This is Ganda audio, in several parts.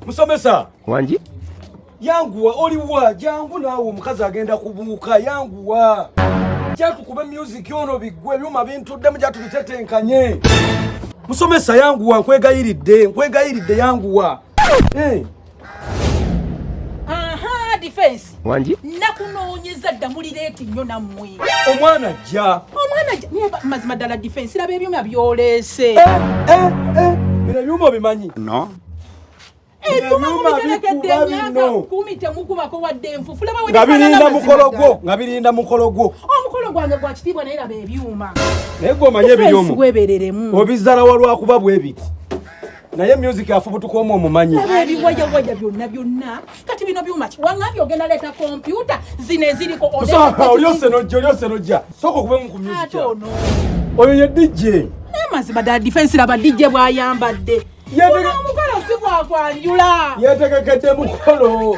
musomesa wangi yanguwa oliwa jangu naawe omukazi agenda kubuuka yanguwa jatukube myuziki ono biggwe ebyuma bintuddemu jatubitetenkanye musomesa yanguwa nkwegayiridde nkwegayiridde yanguwa eh. defense wangi nakunoonyeza dda muli leeti nnyo nammwe omwana ajja omwana ajja naye mazima ddala difensi laba ebyuma byoleese eh, eh, eh. bino ebyuma obimanyi no nga birinda mukolo gwo nga birinda mukolo gwo omukolo gwange gwa kitiibwa naye laba ebyuma naye gwe omanye ebiryomu obizala walwakuba bwebiti naye music afubutuka omu omumanyi ebiwayawaja byonna byonna kati bino byuma ki wangambye ogenda leeta kompyuta zino eziriko olyose nojja olyose nojja sooka okube mu ku music oyo ye dj naye mazima ddala difensi laba dj bwayambadde omukolo si gwakwanjula yetegekedde mukolo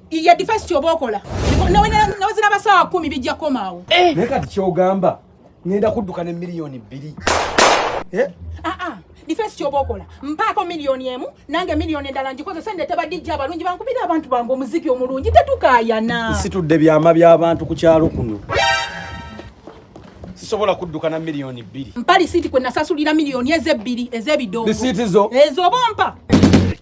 Iye defense kyoba okola. Nawe nawe zina basawa 10 bijja komaawo. Eh. Naye kati kyogamba ngenda kudduka ne milioni bbiri. Eh? Ah ah. Defense kyoba okola. Mpaako milioni emu nange milioni endala ngikozesa ndeeta ba DJ abalungi bankubira abantu bange omuziki omulungi tetukaayana. Situdde byama by'abantu ku kyalo kuno. sisobola kudduka na milioni bbiri mpa lisiiti kwe nasasulira milioni ezebbiri ez'ebidongo lisiiti zo ez'obompa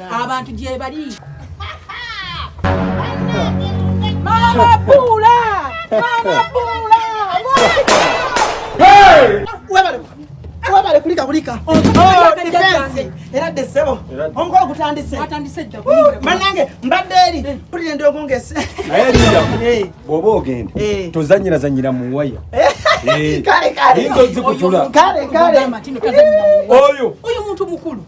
abantu gyebali mamabuula mamabuula webale kulika kulika oh, era dde ssebo omukolo gutandise banange mbadde eri eh. pulira ndi ogongese naye linda eh. bwoba ogenda eh. tozanyirazanyira mu waya kale kale oyo oyo muntu mukulu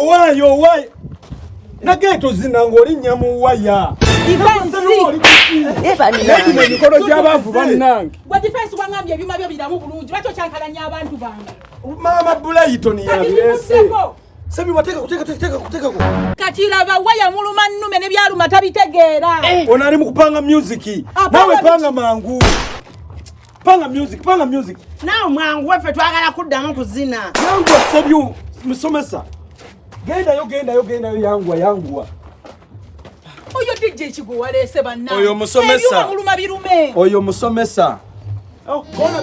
owaye owaye nageto zina ng'olinnya mu waya emikolo gy'abaavu bannange maama bulayitoni yabirese Sami wateka kuteka kuteka kuteka ku. Katila ba waya muluma nume ne byaluma tabitegeera. Eh. Onali mukupanga music. Nawe panga mangu. Panga music, panga music. Nao mwangu wefe twagala kuddamu kuzina. Yangu asebyu musomesa. Genda yo genda yo genda yo yangu yangu. Oyo DJ Kigo walese banna. Oyo musomesa. Eyo muluma birume. Oyo musomesa. Oh, kona.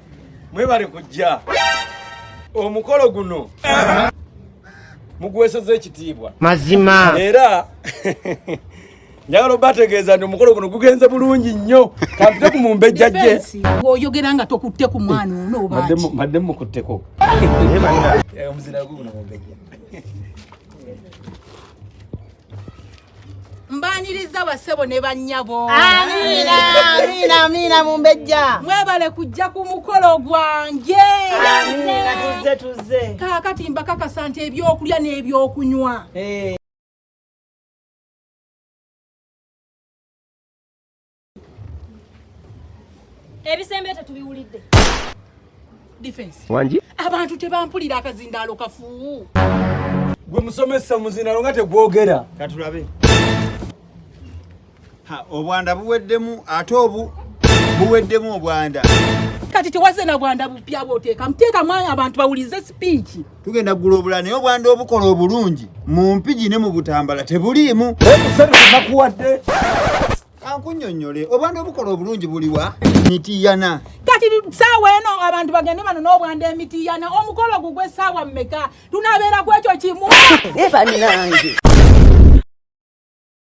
mwebale kujja omukolo guno mugweseza ekitiibwa mazima era njagala obategeeza nti omukolo guno gugenze bulungi nnyo kampite ku mumbejja gye oyogera nga tokutte ku mwana ono obadde mukutteko eh, omuzira guguno mumbejja mbaniriza basebo ne bannyabo amiina mumbejja mwebale kujja ku mukolo gwange kaakati mbakakasa nti ebyokulya n'ebyokunywa eh. ebisembe tetubiwulidde defense wangi abantu tebampulira akazindaalo kafu gwe musomesa muzindaalo nga tegwogera katulabe obwanda buweddemu ate obu buweddemu obwanda kati tewaze na bwanda bupya bwoteeka muteekamu abantu bawulize sipiiki tugenda kugula obulala naye obwanda obukola obulungi mu mpigi ne mu butambala tebuliimu nakuwadde kankunyonyole obwande obukola obulungi buliwa mitiyana kati saawa eno abantu bagende bano n'obwande emitiyana omukolo gugwe saawa mmeka tunabeera ku ekyo kimu ebanange eh,